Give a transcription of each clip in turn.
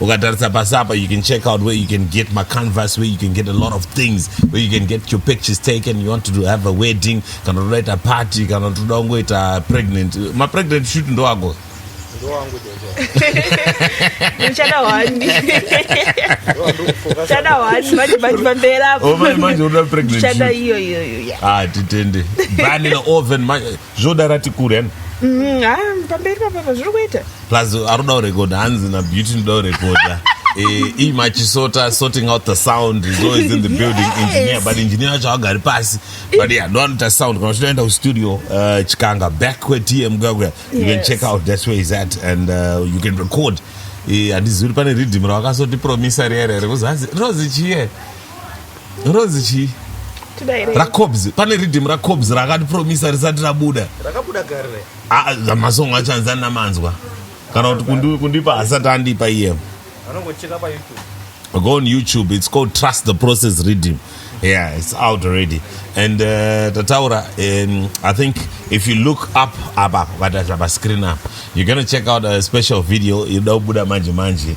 ukatarisa pasi apa you can check out where you can get macanvas where you can get a lot of things where you can get your pictures taken you want to have a wedding kana toda ita party kana toda kungoita pregnant mapregnant shut ndoago titende bani naoven zvoda rati kure yani mm, ah, pamberi papapa zviri kuita plus aruda urekodha hanzi na beauty ndoda urekodha eh, iyi machisota sorting out the sound is always in the building yes. engineer but engineer wacho agari pasi but yeah ndo anoita sound kana uchitoenda kustudio uh, chikanga back kwetm gagwe yes. you can check out that's where is at and uh, you can record eh, handizivi kuti pane riddim rawakasotipromisa riya rere kuzanzi rinozi chiye ronzi chii racobs pane riddim racobs rakatipromisa risati rabuda ah, masong acho anzi andina manzwa kana kuti kundipa hasati andipa iye go on youtube it's called trust the process riddim yeah it's out already and uh, tataura um, i think if you look up apa vataza pascreen up you're gonna check out a special video inoda kubuda manje manje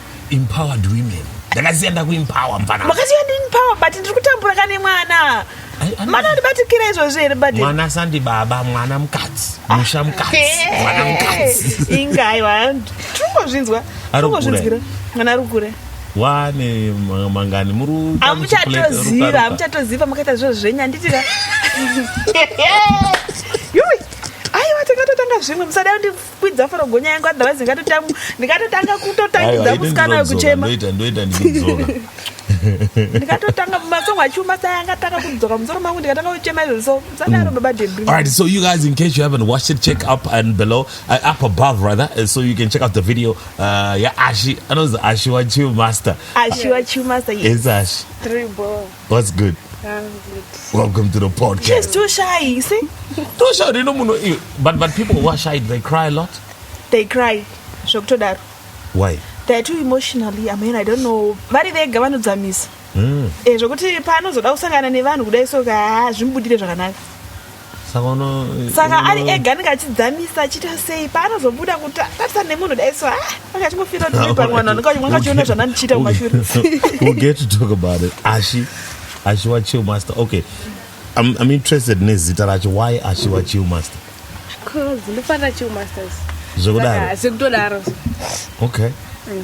empowered women ndakasiya ndakuempower mfana makasiya ndiempower but ndiri kutambura kane mwana mwana andibatikira izvozvo here bad mwana sandi baba mwana mukadzi ah, musha mukadzi mwana mukadzi inga aiwa tirikungozvinzwa tirikungozvinzwira mwana ari kukura wane mangani muri amuchatoziva amuchatoziva makaita zviro zvenyu anditira yoi aiwa tingatotanga zvimwe musadai kwidza foro gonya yangu otherwise ndingatotanga ndingatotanga kutotangidza musikana wekuchema ndoita ndoita ndikudzoka ndikatotanga masong achiuma sai angatanga kudzoka musoro mangu ndikatanga kuchema izvozvi so sadaro mm. baba debri all right so you guys in case you haven't watched it check up and below uh, up above rather uh, so you can check out the video uh, yeah ashi anonzi ashi wachiu master ashi wachiu master yes ashi triple What's good? I'm good. Welcome to the podcast. She's too shy, you see? too shy, you know, muno, but, but people who are shy, they cry a lot. They cry. Zvokutodaro. Why? They're too emotionally, I mean, I don't know. Vari vega vanodzamisa. Mm. Eh, zvekuti paanozoda kusangana nevanhu kudai so ka zvimubudire zvakanaka. saka ari ega anenge achidzamisa achiita sei paanozobuda kutatisa nemunhu dai so anga achingofira kuti uri pamwe vanhu vanga achiona zvanandichiita kumashurisaashi ashiwa chill master okay I'm, I'm interested nezita racho why ashiwa chill master zvekudaro okay mm.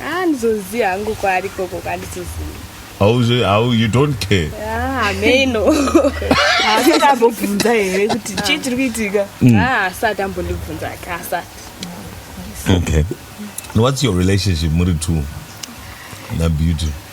Ah, ndizoziva hangu kwaari koko kandizoziva. Hauzi hau you don't care. Ah, ameno. Haasati ambobvunza here kuti chii chiri kuitika? Mm. Ah, haasati ambondibvunza ka asati. Okay. And what's your relationship muri two na Beauty?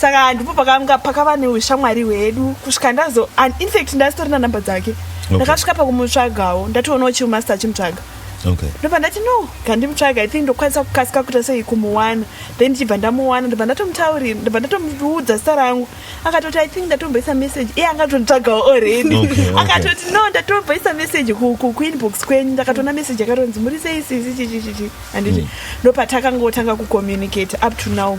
saka ndipo pakanga pakava neushamwari hwedu kusvika ndazo and infact ndasitori nanumber dzake ndakasvika okay. pakumutsvagawo ndatoonawo chiumaster achimutsvaga okay. ndobva ndati no kandimutsvaga i think ndokwanisa kukasika kuita sei kumuwana then ndichibva ndamuwana ndobva ndatomutaurira ndobva ndatomuudza zita rangu akatoti i think ndatomboisa message iye anga tonditsvagawo already okay, okay. akatoti no ndatomboisa message kuinbox kwenyu ndakatoona message akatonzi muri sei sisi chichichichi handiti mm. ndopatakangotanga kucommunicate up to now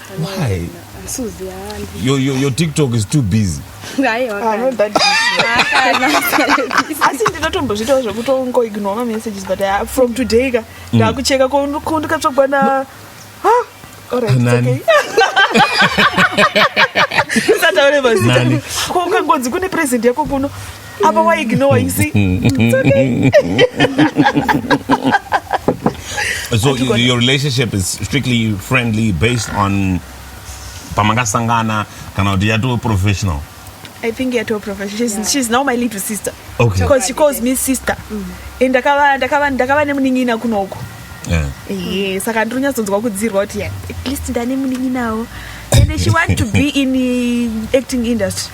Why? Suzi haani. Your, your, your TikTok is too busy. Haiwa Ah, kana. not that busy. Haakana. asi ndinotombozvitawo zvekutongo ignore ma messages but uh, from today ka ndakucheka ko ko ndikatsvagwa na Ah, alright, it's Nani? okay. Usataure mazita. Nani? ko ukangonzi kune present yako kuno apa wa ignore you see it's okay so your relationship is strictly friendly based on pamakasangana kana kuti yatoo professional I think you're too professional. She's, yeah. she's now my little sister. Okay. Because she calls me sister. Mm. And ndakava ndakava ndakava nemunin'ina kuno uko. Yeah. Yeah. Saka ndiri kunyatsonzwa kudzirwa kuti at least ndane munin'inawo. And she want to be in the acting industry.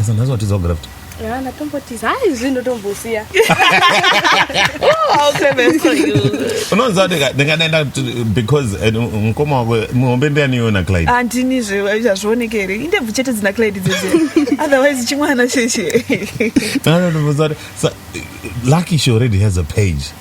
Esa nhasi watiza kugara futi. Yeah, ndatombotiza. Hayi zvinhu ndotombosiya. Unonzi wati ndingadaenda because eh, mukoma wako muhombe ndiani iwe naClyde. Andini zve zvazvioneke here. Indebvu chete dzina Clyde dzese. Otherwise chimwana sheshe. Anonzi wati lucky she already has a page.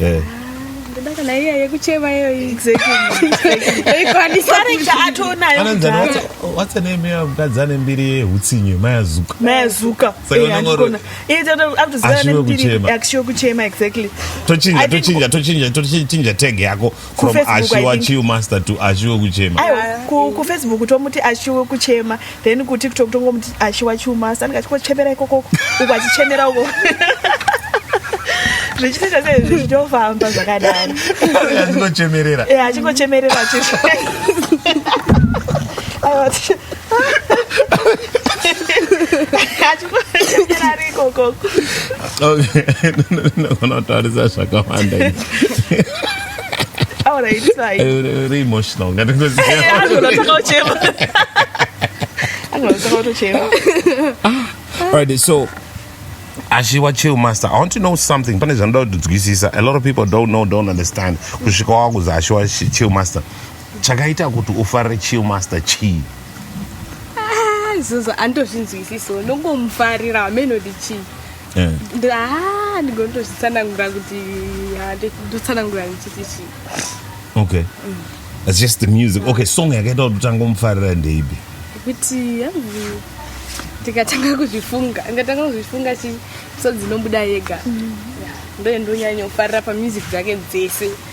Eh. Ndoda kana iya yekuchema iyo exactly. Ikwanisa rega atoonayo. What's the name ya mkadzi ane mbiri yehutsinye Maya Zuka. Maya Zuka. Eh andikona. Iye tata akuziva ane mbiri akushiwa kuchema exactly. Tochinja tochinja tochinja tochinja tag yako. from ashiwa chiu master to ashiwa kuchema ku, ku facebook tomuti ashiwa kuchema then ku tiktok tongomuti ashiwa chiu master andika chikochemera ikoko uku achichemera uko zvichitoita sei zvichitofamba zvakadaro achingochemerera e achingochemerera chizvo achingochemera rikokoko okay nogona kutaurisa zvakawanda Ahora está ahí. Era emotional, no tengo Algo lo tocó Chema. Algo lo tocó Chema. All right, so ashiwa chill master i want to know something pane zvanoda kudzwisisa a lot of people don't know don't understand kusvika wakuzi ashiwa chill master chakaita kuti ufarire chill master chii ah, izvozvo andozvinzwisiso nongomufarira hameno ndichii Eh. Ah, ndigonotozvitsanangura kuti ah, ndotsanangura ndichiti chii okay it's just the music okay song yakaita kuti utanga umufarira ndeipi kuti hanzi ndikatanga kuzvifunga ndikatanga kuzvifunga chi so dzinobuda yega Yeah. ndoye ndonyanyofarira pamusic dzake dzese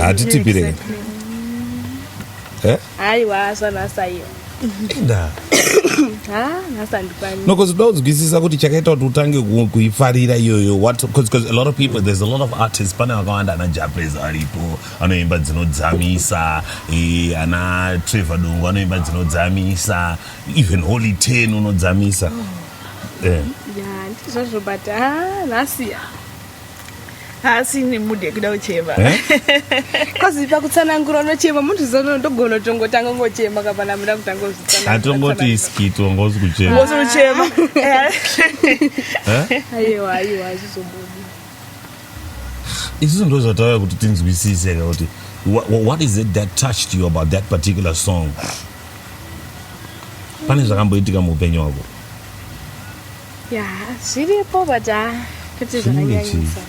hatitipire aiwa zvanasaiyo inda nokuti uda kunzwisisa kuti chakaita kuti utange kuifarira iyoyo whatbecause a lot of people there's a lot of artists pane vakawanda ana japres aripo anoimba dzinodzamisa eh, ana trevor dongo anoimba dzinodzamisa even holy ten unodzamisa oh. eh. ndizvozvo but nhasiya haasi ine mood yekuda kuchema bcause eh? pakutsanangura unochema munhu zvizono ndogona tongotanga ngochema kapana muda kutanga kuzviatongoti iskit wanga usi kuchema usi kuchema eh? eh? aiwa aiwa azvizobudi isusu ndo zvatauya kuti tinzwisise ka kuti what is it that touched you about that particular song pane zvakamboitika muupenyu wako ya zviripo but ha kuti zvakanyanyisa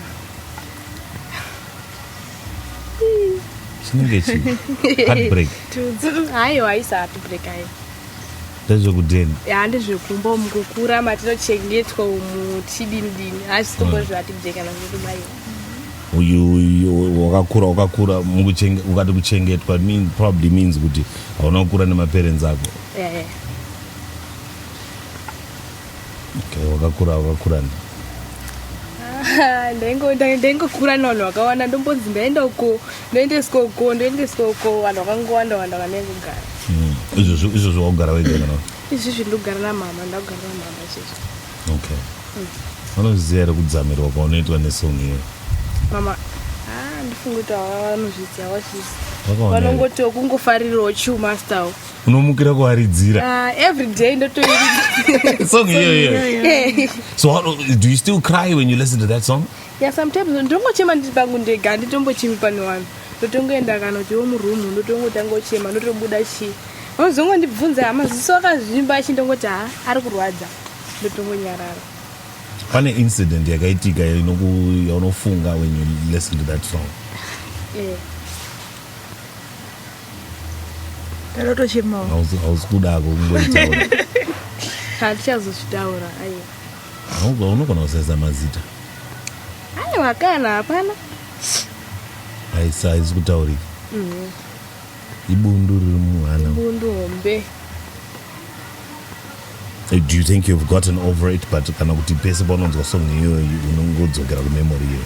chinenge chi heartbreak haiwa haisi heartbreak ayo ndezvekudeni ya ndezvekumba mukukura matinochengetwa umu chidini dini haisi kumbo zveheartbreak kana zvekubaiwa uyu wakakura wakakura ukati kuchengetwa probably means kuti hauna kukura nemaparents ako yeah, yeah. Okay, wakakura wakakura ne. Ah, ndaingo ndaingokura navanhu vakawanda ndombonzi ndaenda uko ndoendeswa uko ndoendeswa uko vanhu vakangowanda wanda vanaingogara hmm, izvozvo izvozvo wakugara wega kana izvizvi ndogara namama ndakugara namama izvizvi okay hmm. vanoziva here kudzamirwa kwaunoitwa nesong iyo mama ah, ndifunga kuti havanozviziva vachisi vanongotiwo kungofarirawo chiumastawo unomukira kuaridzira uh, every day ndotoiridza song iyo iyo so how, do you still cry when you listen to that song yeah sometimes ndongochema ndiri pangu ndega handitombochimi pane vanhu ndotongoenda kana kuti wo muroom ndotongotanga uchema ndotobuda chii vanozongondibvunza hama ziso akazvimba achi ndongoti ha ari kurwadza ndotongonyarara pane incident yakaitika yaunofunga when you listen to that song yeah. Ndatochemawo. Hausi hausi kuda ako kungoitaura. Hatichazozvitaura aiwa. Hauga unogona kusaiza mazita. Aiwa kana hapana. Haisi haisi kutaurika. Mhm. Ibundu riri muhana. Bundu hombe. Eh, Do you think you've gotten over it but kana kuti pese paunonzwa song iyoyo unongodzokera kumemory iyoyo.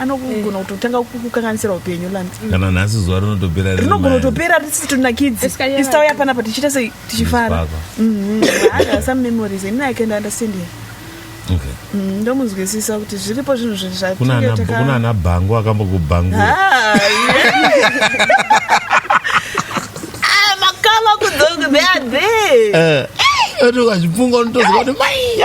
anogona kutotanga kukukanganisira upenyu lanzi kana nhasi zuva rinotopera rine rinogona mari. kutopera risisi tonakidzi Iska yava- isi tauya panapa tichiita sei tichifara Zvipaka. some memories and i can understand him Okay. Mm, ndomunzwisisa kuti zviripo zvinhu zvi- zvatinge kuna ana- taka- kuna ana bhangu akambokubhangura Ah, Ah, makama kudzoka they are there Eh, oti ukazvifunga unotoziva kuti mai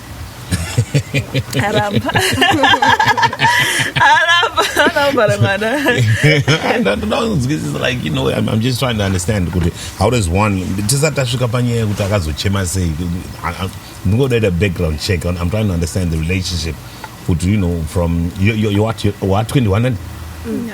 aramba aramba anambara mwana ndinonzwisisa like you know I'm, I'm just trying to understand kuti how does one tisati tasvika panyaya yekuti akazochema sei ndingoda ita background check I'm trying to understand the relationship kuti you know from you, you, you, you, you are 21 and mm, no.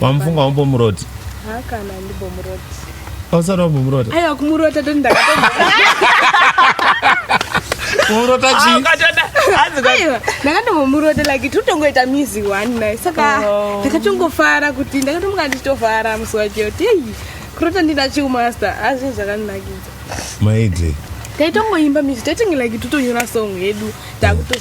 wamufunga wambomuroti hakana ndimbomuroti ausati wambomuroti aiwa kumurota toti ndakatomba kumurota chi Ah, ukatoda. Hanzi kwa- aiwa ndakandombomurota like totongoita mizi one naye saka Oh. ndakatongofara kuti ndakatomga ndichitofara musi wacho kuti eyi kurota ndina chiumaster azvinhu zvakandinakidza maidi taitongoimba mizi taitinge like totonyora song yedu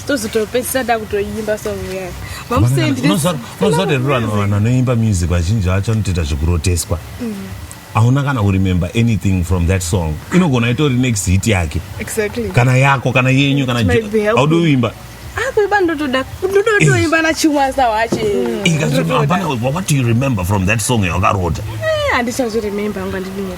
tozotopedzisa takutoimba song yayo mamusendiunoziva kuti ruri vanhu vanhu vanoimba music vazhinji vacho anotoita zvekuroteswa mm. hauna kana kuremember anything from that song inogona itori next hit yake kana yako kana yenyu kana haudi uimba akuimba ah, ndotoda ndotoimba eh. nachimwasa wache hapana eh, what do you remember from that song yawakarota eh, handichazviremember anga ndinyepa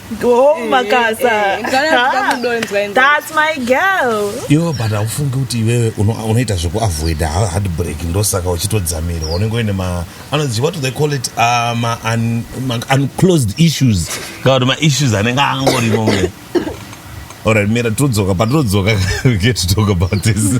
Oh, eh, makasa. Eh, eh, That's my girl. Yo, but haufungi kuti iwewe unoita zvekuavoida heartbreak ndosaka uchitodzamira unenge uine ma anozi what do they call it uh, ma, un, ma unclosed issues kana kuti maissues anenge angorimo mune alright mira todzoka patinodzoka we get to talk about this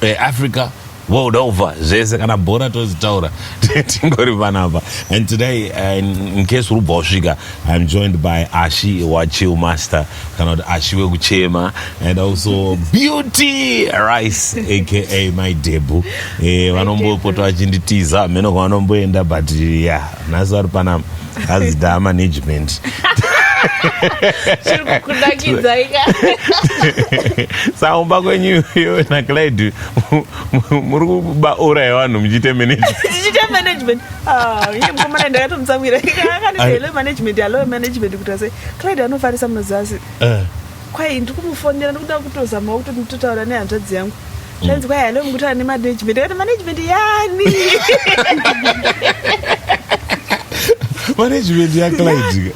eh, Africa world over zvese kana bhora tozitaura tingori panapa and today uh, in case uri kubva wasvika i'm joined by ashi wachill master kana kuti ashi wekuchema and also beauty rice aka my debu eh, vanombopota vachinditiza hameno kwanomboenda but ya yeah, nhasi vari panapa hanzi da management saumba kwenyu iyo naclid muri kuba ura yevanhu muchiite managementmanagement ah, ndakatomutsamwira akandiele management alo management kuti ase clid anofarisa munoziva asi eh. Kwai ndiri kumufonera ndikuda kutozamawo kuti nditotaura nehanzvadzi yangu zvanzi kwai halo mukutaura nemanagement kati management yani management yaclidka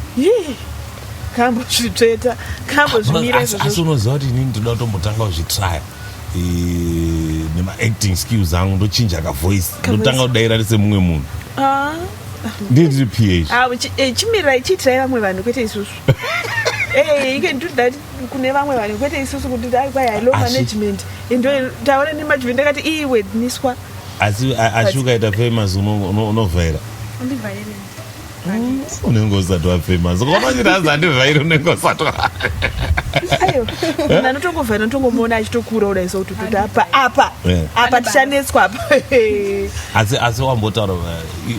kambo zvitsveta kambo zvimira asi unoziva kuti inini ndinoda kutombotanga kuzvitraya nemaacting skills angu ndochinja kavoice ndotanga kudaira risemumwe munhu ah. ndiri ndiri ph ah, eh, chimirai chiitirai vamwe vanhu kwete isusu Hey, you can do that kune vamwe vanhu kwete isusu kuti dai kwai i love Asi- management endo taura nemanagement ndakati iyi wedniswa asi a- asi ukaita famous uno- uno- unovhaira Andivhaire. unenge usati wafamous ukamanyira hanzi andivhairi unenge usati wa- ayo munhu anotongovhaira unotongomuona achitokura kudai so kuti kuti apa apa Yeah. apa tichanetswa apa asi asi wambotaura uh, i-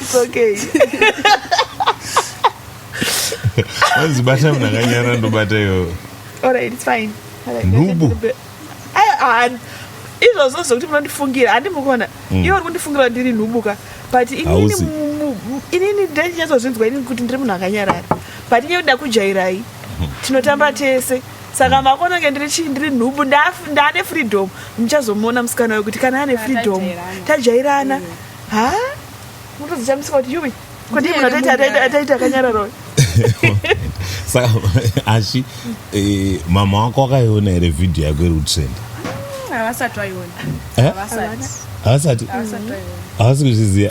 It's okay. Once bata mna kanyara ndo bata yo. All right, it's fine. Nubu. Ayo ah, izvo zvozo kuti munondifungira handi mukona. Mm. Iwe uri kundifungira ndiri nubu ka. But inini inini ndinyatsozvinzwa inini kuti ndiri munhu akanyarara. But inye kuda kujairai. Mm-hmm. Tinotamba tese. Mm. saka makonange ndiri chii ndiri nhubu ndaane freedom muchazomuona musikana wayo kuti kana ane freedom tajairana ha mutozichamisika kuti yuwi kodi munhu ataita akanyararoi saka asi eh, mama wako akaiona here vhidhiyo yako iri kutrenda havasati vaiona eh? havasati havasi kuzviziva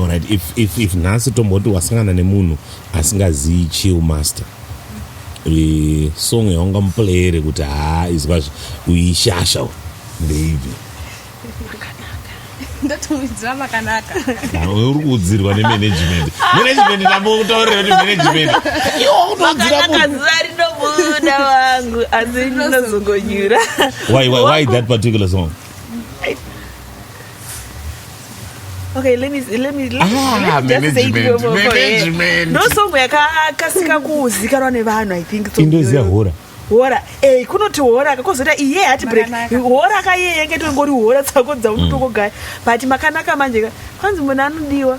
Alright, if, if, if nhasi tomboti wasangana nemunhu asingazivi chill master e, song yaunga muplayere kuti haa izwa uishasha ndeipi ndotomuidzira makanaka uri kuudzirwa nemanagement management ndambotaurira kuti management iwokutodziraakazivarinobuda vangu asi ndinozongonyura why, why, why that particular song Okay, let me let me let me, ah, let me just say it for, management. No song yakakasika kuzikanwa nevanhu I think so. Indoziya hora. Hora. Eh, kunoti hora kakozota iye hati break. Hora ka iye yenge tongori hora tsako dzaunotoko mm. guy. But makanaka manje kwanzi munhu anodiwa.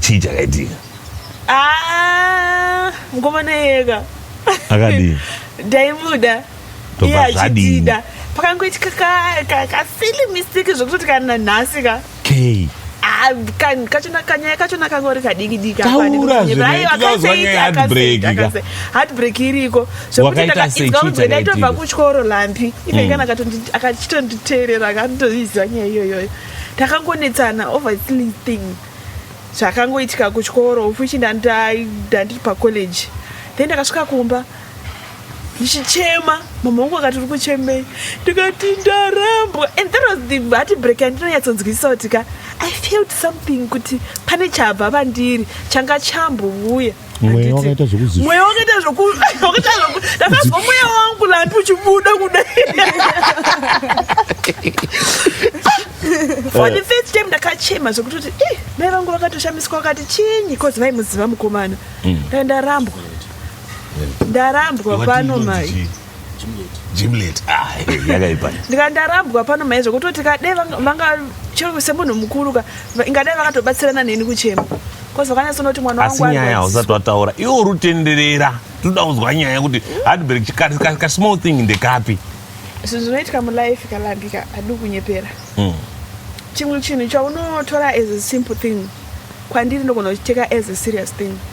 chii chakaitika ah, ngomana yeka akadii ndaimuda iye achitida pakangoitika kasili mistake zvokuti kana nhasi ka kei kachona kanyaya kachona kangori kadikidiki heartbreak iriko zvekutiaitobva kuchikoro lampi iveikana mm. akachitonditeerera akatoiziva nyaya iyoyoyo takangonetsana over silly thing zvakangoitika kuchikoro which ndandiri pacollege then ndakasvika kumba ndichichema mama wangu akati uri kuchemei ndikati ndarambwa and that was the hati break yandinonyatsonzwisisa kuti ka i felt something kuti pane chabva vandiri changa chambovuya mweya wakaita zvekuzi mweya wakaita zvoku wakaita zvoku ndakazwa mweya wangu landi uchibuda kudai for the first time ndakachema zvekutoti eh, mai vangu vakatoshamiswa vakati chinyi because vaimuziva mukomana mm. ndarambwa ndarambwa pano mai jimlet ah, yakaipa ndika ndarambwa pano mai zvekutoti kadai vanga chero semunhu mukuru ka ingadai vakatobatsirana neni kuchema kozi vakanyatsonoti mwana wangu asi nyaya hausati wataura iwe uri utenderera tinoda kunzwa nyaya yekuti hardberg kasmall thing ndekapi zvinhu zvinoitika mulife kalambika adi kunyepera hmm. chimwe chinhu chaunotora as a simple thing kwandiri ndogona kuchiteka as a serious thing mm.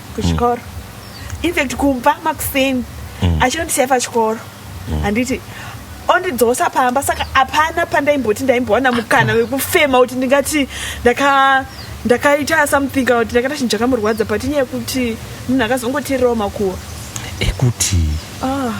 kuchikoro mm. infact kumba makuseni mm. achinondisiya pachikoro mm. handiti mm ondidzosa pamba saka hapana pandaimboti ndaimbowana mukana wekufema kuti ndingati ndaka ndakaita something kana kuti ndakaita chinhu chakamurwadza but inyaya yekuti munhu akazongoteererawo makuwa ekuti ah.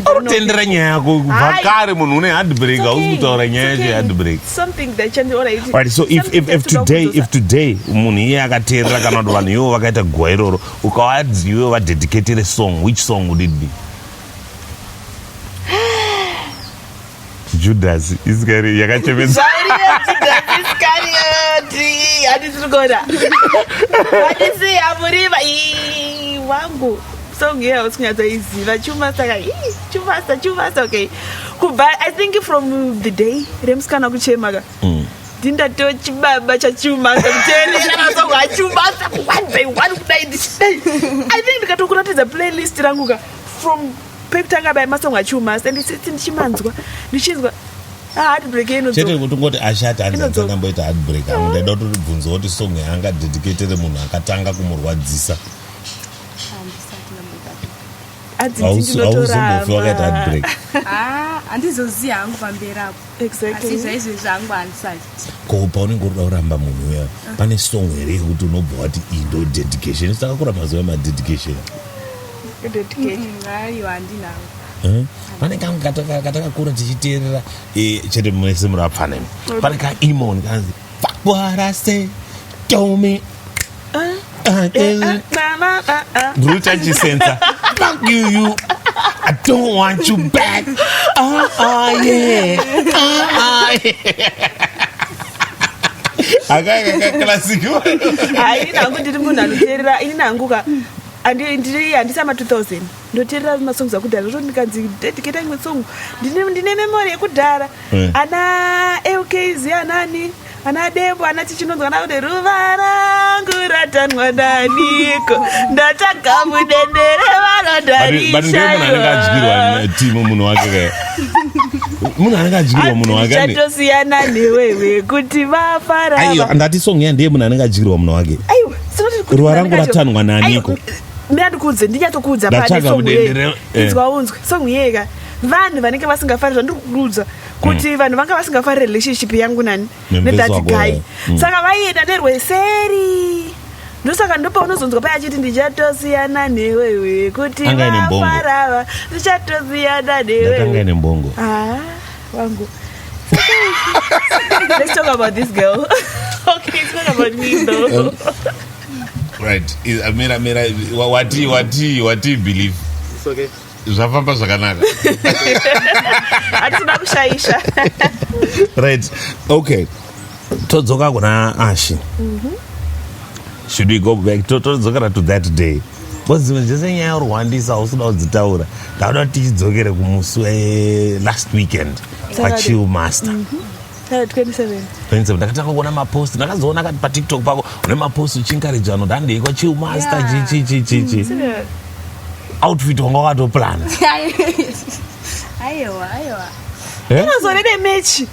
Arutendera nyaya yako vakare munhu une hard break hausi kutaura nyaya yacho hard break. Something that can be alright. Right so if if if today if today munhu iye akateerera kana kuti vanhu ivo vakaita guwa iroro ukawadzi iwe va dedicate song which song would it be? judhasi isikari yakachemedza wangu song iya usingatoiziva chumasta ka chumasta chumasta okay kubva i think from the day remusikana kuchema ka mm. ndindato chibaba chachumasta kuteereraasongachumasta one by one kudai ndisei i think ndikatokuratidza playlist rangu ka from pekutanga bai masong achiumasa and sisi ndichimanzwa ndichinzwa chete kuti ngoti ashati hanzi hanzi akamboita heartbreak avo ndaida kuti tibvunza kuti song yaanga dedicatere munhu akatanga kumurwadzisa auzombofi wakaita heartbreak ah, handizoziva hangu pamberi apo asi zvaizve zvangu handisati ko paunenge uri kuda kuramba munhu uya pane song here yekuti unobva wati iyi ndo dedication isakakura mazuva emadedication ayo handinawo Eh? pane kangu katakakura tichiteerera eh, chete mese murapfanemi pane kaimon kanzi fakwarase tomi Brutal Chisenza. Fuck you, you. I don't want you back. Ah, ah, yeah. Ah, ah, yeah. akakaklasiko hayi nangu ndiri munhu anoteerera ini nangu ka ndiri handisa ma 2000 ndoteerera masongs akudhara zvo ndikanzi dedicate imwe song ndine memory yekudhara eh. ana lkz anani Ana Dembo ana chichinonzwa nakuti ruva rangu ratanwa naniko ndatsvaga mudendere vanodarishaatimu munhu wake munhu anenge adyirwa munhu wakechatosiyana newewe kuti vafaraiwa ndati song ya ndiye munhu anenge adyirwa munhu wake ruva rangu ratanwa naniko ndandikuudze ndinyatokuudza panesong inzwa unzwe song iyeka vanhu vanenge vasingafanira ndikukuudza kuti vanhu vanga vasingafarire relationship yangu nani Nembeza nedati wako, guy eh. Mm. saka vaienda nerweseri ndosaka ndopaunozonzwa paya achiti ndichatosiyana newewe kuti Anga ine mbongo. vafarava ndichatosiyana Dati anga newewe ine mbongo Ah, wangu let's talk about this girl okay it's not about me though right I- mira mira wa- watii watii watii believe It's okay. zvafamba zvakanaka hatitoda kushaisha right okay todzoka kuna ashi mm -hmm. should we go back todzokera to, to that day bcause dzimwe dzese nyaya urwandisa hausuda kudzitaura ndauda tichidzokere kumusi welast weekend pachill master mm -hmm. 27 ndakatanga kuona mapost ndakazoona kati patiktok pako une mapost uchinkariji vanhu ndandeikwa chill master chichichichichi mm, outfit wanga wakatoplana aiwa aiwa eh? inozorede mechi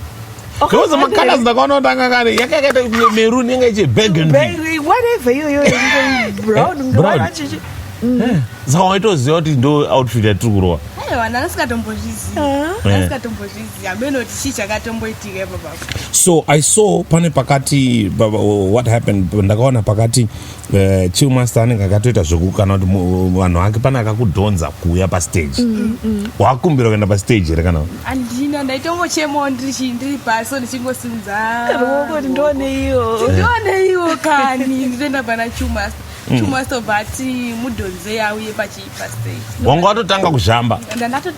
because makala zindakaona kuti anga kare yanga yakaita merun yanga ichi burgundywatever iyoyo brown saka waitoziva kuti ndo outfit yatiri kurova aiwa ndanga singatombozviziva Hameno kuti chii chakatomboitika ipo baba. so i saw pane pakati ba- ba- what happened ndakaona pakati uh, chill master anenge akatoita zveku kana kuti mu- vanhu vake pane akakudhonza kuuya pastage wakumbira kuenda pastage here kana Andina ndaitongochemawo ndiri chi- ndiri pasi so ndichingosimudza. Ruoko kuti ndione iyo. Ndione iwo kani nditoenda pana Chumasta. Chumasta obva ati mudhonzei auye pachi wanga watotanga kuzhamba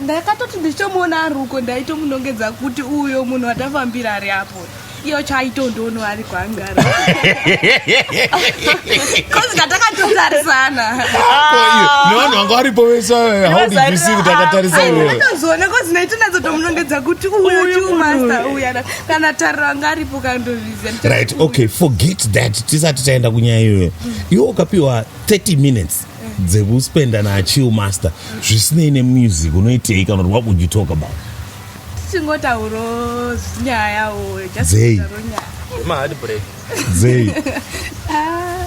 ndakatoti ndichitomuona ari uko ndaitomunongedza kuti uyo munhu watafambira ari apo iyo chaitondono ari kwangara kozi katakatotarisana nevanhu vanga varipo vese haudivisi kuti akatarisa iyoatozoona kozi naitonadzo tomunongedza kuti uyo chiumasta uya kana tariro anga aripo kandozviziva right okay forget that tisati taenda kunyaya iyoyo iwo ukapiwa 30 minutes dzekuspenda nachill master zvisinei nemusic unoitei kana kuti what would you talk about tichingotauro nyayawo dzei dzei ah,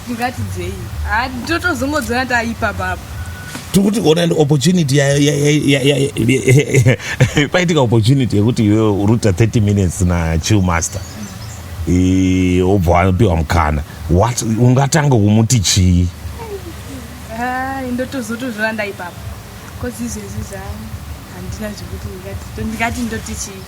ndingati dzei ah, ndotozongodzona taipa baba tikuti ona ndi opportunity paitika opportunity yekuti iwe uruta 30 minutes nachill master Eh, obva apiwa mukana what ungatanga kumuti chii ndotozotozvira ndaipapa bcause izvezvi zva handina zvekuti ndingati ndoti chii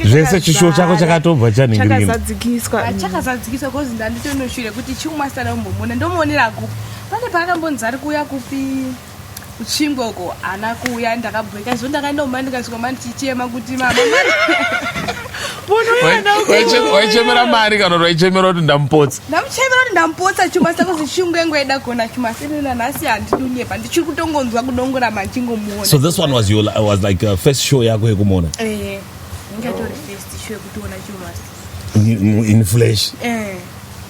zvese chishuwo chako chakatobva chaningirichakazadzikiswa chakazadzikiswa bcause ndanditonoshure kuti chiumasana umbomona ndomuonera kupi pane paakambonzi ari kuuya kupi kuchingoko haana kuuya ndakabweka izvo ndakaenda kumai ndikasvika mani chichema kuti mamawaichemera mari kana kuti waichemera kuti ndamupotsa ndamuchemera kuti ndamupotsa chuma sako zishungu yangu yaida kuona chuma senena nhasi handidunyepa ndichiri kutongonzwa kudongora machingomuona so this one was, your, was like uh, first show yako yekumuona eh, ingatorefisto yekutoona chuma in flesh eh.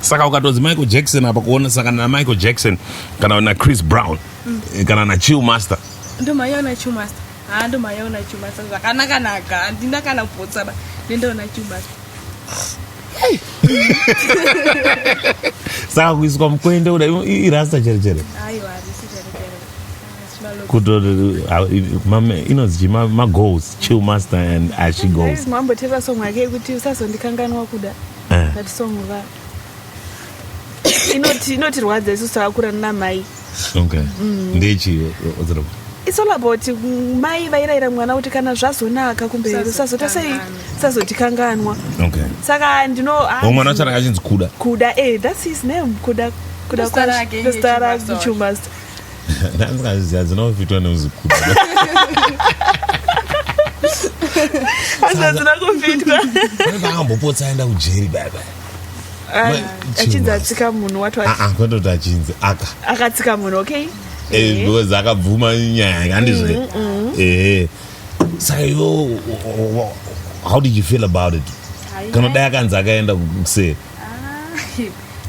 saka ukatonzi michael jackson apa kuona saka namichael jackson kana nachris brown mm. kana nachill master ndomaiona chill master haa ndomaiona chill master zvakanaka naka handina kana kupotsaba nendoona chill master saka kuiswa mukwende uda irasta chere chere inonzi magoals chill master and ashi goals mamboteera song yake yekuti usazondikanganwa kuda Eh. that song va inoti inotirwadza isusu takakura namai okay mm. ndechi odzira it's all about mm, mai vairayira mwana kuti kana zvazonaka kumberi usazota sei sazotikanganwa okay saka ndino ah, mwana wacho anga achinzi kuda kuda eh that's his name kuda kuda kwazita rake chumasta ndandikazviziva dzinofitwa nemuzukuru asi hadzina kufitwa akambopotsa aenda kujeri baba achinzi atsika munhu wati ah, ah, kwete kuti achinzi aka akatsika munhu okay eh, because akabvuma nyaya yandizve mm, mm, mm. ehe saka yo how did you feel about it kana dai akanzi akaenda kuseri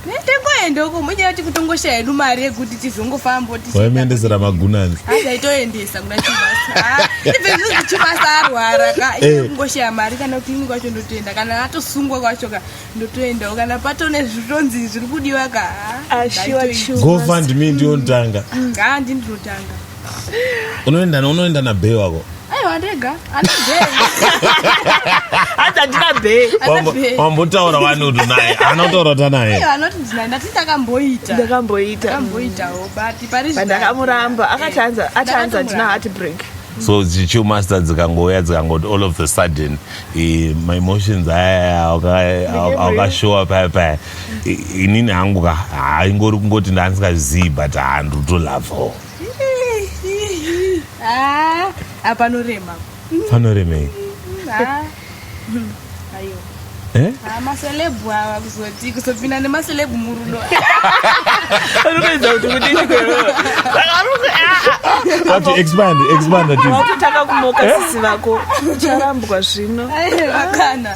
nitengoenda uko munyaya kuti kutongoshaya hedu mari yekuti tizongofambo tichiendesera magunanzi asaitoendesa kuna chibasa ipezvizvi ah, chibasa arwara ka eh. ine kungoshaya mari kana kliniki kwacho ndotoenda kana atosungwa kwacho ka ndotoendawo kana patone zvitonzi zviri kudiwa ka ah, ah, gofund me ndiyondanga haa ndindinotanga unoenda na- unoenda nabhee wako aiwa ndega hanzi handina bhee Wambo- Anabhee. wambotaura wani utu naye anotaura ta naye anoti ndina ndati ndakamboita ndakamboita ndakamboitawo but pari But ndakamuramba akati hanzi ati hanzi handina heart break so chichiu master dzikangouya dzikangoti all of the sudden eh, my emotions aya awaka- awa- awakashowa paya paya I- inini hangu ka haingori kungoti ndandisikazivi but handutolavawo Ah, ah, panorema. Panoremei? Ah. Ayo. Eh? Ah, maselebu awa kuzoti kuzopinda nemaselebu murudo. Anokuedza kuti kudini kwero. Ati expand, expand ati. Wakutaka kumoka sisi vako. Ucharambwa zvino. Ayo, akana.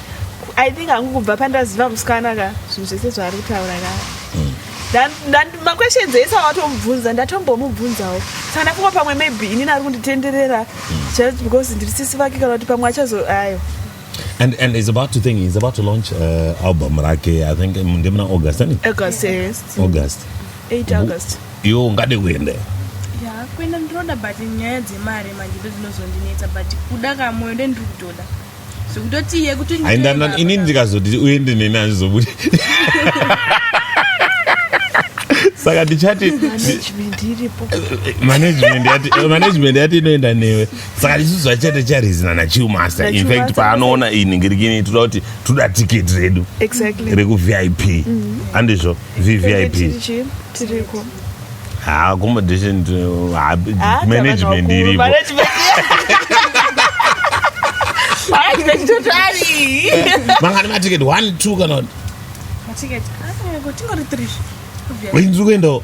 i think hangu kubva pandaziva musikana ka zvinhu zvese zvaari kutaura ka hmm. maquestions ese awatomubvunza ndatombomubvunzawo saka ndafunga pamwe maybe inini ari kunditenderera hmm. just because ndiri sisi vake kana kuti pamwe achazo ayo And, and he's about to think he's about to launch uh, album rake i think um, ndimuna august ani august yes. august 8 august iwo ungade kuenda yeah, kuenda ndiroda but nyaya dzemari manje ndodzinozondinetsa but kuda kamwoyo ndendiri kutoda zvekutoti iye kuti aindana ini ndikazoti uende neni hazvizobude saka ndichati management yati management yati inoenda newe saka ndisusu vachata charizina nachiumaster infact paanoona iyi ningirikini toda kuti toda ticket redu rekuvip mm-hmm. andizvo vvip accommodation management iripo mangani maticket one two kana inzwi kuendawo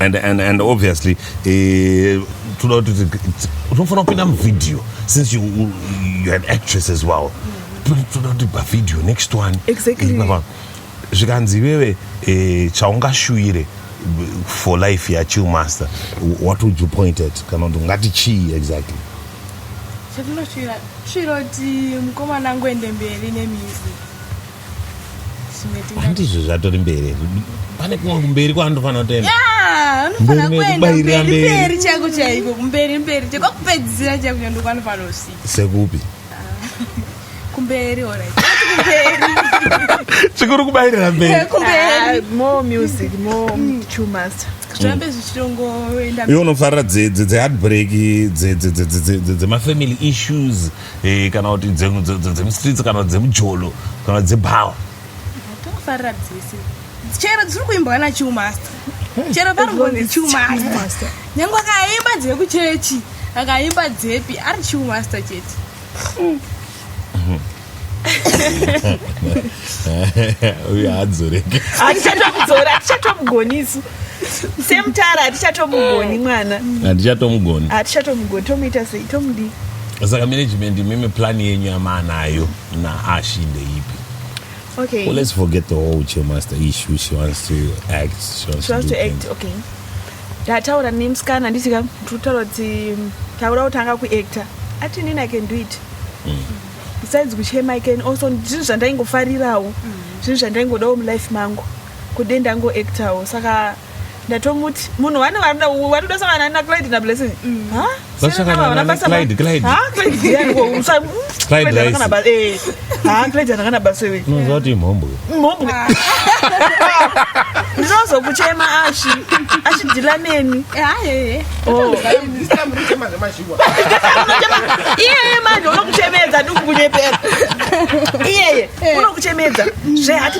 and, and, and obviously eh, toda kuti unofanira kupinda muvideo since you, you, you an actress as well toda kuti pavideo next one exactly. Eh, zvikanzi iwewe eh, chaungashuvire for life yachill master what would you point at kana kuti ungati chii exactly chatinoshuvira shuvira kuti mukomana angoende mberi nemizi handizvo zvatori mberi pane kumwe kumberi kwaandofanira kutoenda mberi chaiko chaiko kumberi mberi kwakupedzisira chaiko chaiko ndokwanofanira kusvika sekupi kumberi chikuru kubairira mberi iwe unofarira dzeheartbreak dzemafamily issues Eh, kana kuti dzemustreets kana dzemujolo kana dzebhawa tofarira dzese chero dziri kuimbwa nachiumasta chero paringonzi chiumasta nyange akaimba dzekuchechi akaimba dzepi ari chiumasta chete uye adzoreke atichatomudzora atichatomugonisu semutara hatichatomugoni mwana handichatomugoni hatichatomugoni tomuita sei tomudii saka management imimi plan yenyu yamaanayo naashi ndeipi okay well, let's forget the whole chemaster issue she wants to act she wants, she wants to, to act okay ndataura nemusikana nditi ka tutaura kuti taura kutanga kuactor ati inini i can do it mm. besides kuchema i can also zvinhu zvandaingofarirawo mm. zvinhu zvandaingodawo mulife mangu kude ndango actawo saka ndatomuti munhu wani varida watoda sangana na clyde na blessing ndinozokuchema ashi ashidhila neni iyeye manje unokuchemedza ndikukunyepera iyeye eh. unokuchemedza zvehati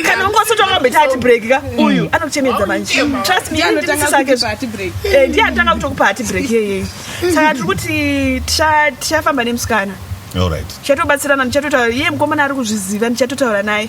kana ungosotokamboita hati break ka mm. uyu anokuchemedza manje trust me anotanga kutokupa hati break eh, ndiye anotanga kutokupa hati break iyeye saka tiri kuti tichafamba nemusikana tichatobatsirana ndichatotaura iye mukomana ari kuzviziva ndichatotaura naye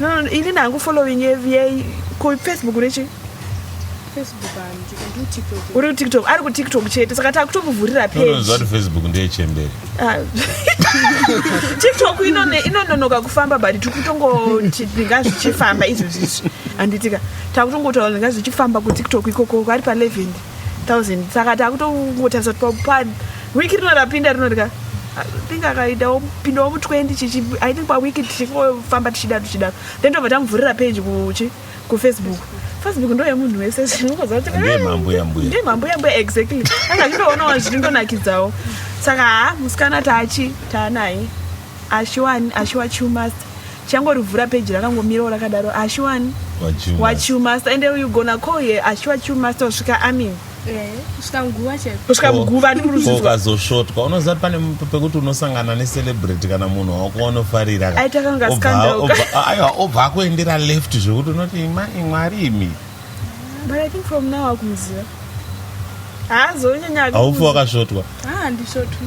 No, no, ini nangu following yei ko Facebook rechi Facebook and do TikTok. Uri TikTok, ari ku TikTok chete. Saka takutomuvhurira page. No, no, Facebook ndiye chembere. Ah. TikTok ino ne ino nonoka kufamba but tikutongo tinga zvichifamba izvo zvichi. Anditika takutongotaura nga zvichifamba ku TikTok ikoko ari pa 11. thousand saka takutongotarisa kuti pa wiki rino rapinda rino rika think akaitawo pindawo mu20 chichi i think pawiki tichingofamba tichidaro tichidaro then tobva tamuvhurira page kuchi kufacebook facebook ndo yemunhu wese zvinokozvatindeemambuyambuya exactly anga zvindoonawo zvindonakidzawo saka ha musikana tachi taanaye ashiwani ashiwa chumasta Changorivhura page rakangomirawo rakadaro Ashwani Wachu Wachu master and you gonna call here Ashwa Chu master usvika amin eh, kusvika muguva chaiko kusvika muguva ndi kuruzizwa ukazosvotwa unoziva kuti pane pekuti unosangana necelebrity kana munhu wako wanofarira aita kanga scandal aiwa obva akuendera left zvekuti unoti mai mwari imi but i think from now akumuziva haazonyanya aufi wakasvotwa ah ndisvotwa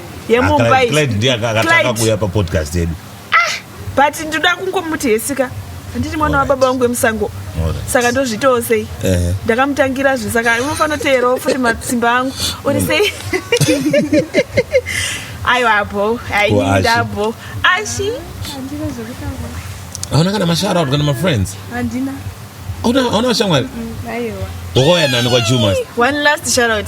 yemumbai Clyde ndiye aka- akatanga Clyde. kuuya papodcast yedu but ndoda kungomuti hesika handiti mwana wababa wangu wemusango Alright. saka ndozvitawo sei Ehe. ndakamutangira zve saka unofanira kuteerawo futi matsimba angu uri sei aiwa bho Ko Ashi? ainida bho ashi handina zvekutaura hauna kana masharout kana mafriends handina hauna hauna vashamwari aiwa wakauya nani kwachumas one last sharout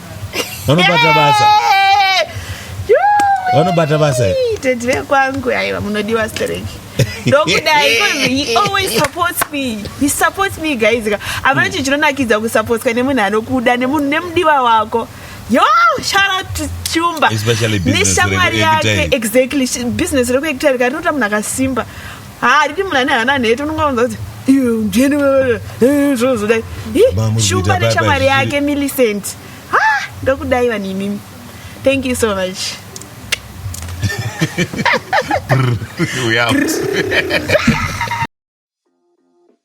vanobata basa vanobata basa tete vekwangu aiwa munodiwa stereki ndokudai he always supports me he supports me guys ka avana chinhu chinonakidza kusapotswa nemunhu anokuda nemunhu nemudiwa wako yo shout chumba neshamwari yake exactly business rekuekita rikati rinoita munhu akasimba haa riti munhu ane hana nhete unonga unza kuti iyo mjeni zvozodai shumba neshamwari yake millicent ha ndokudai vanhu imimi thank you so much we out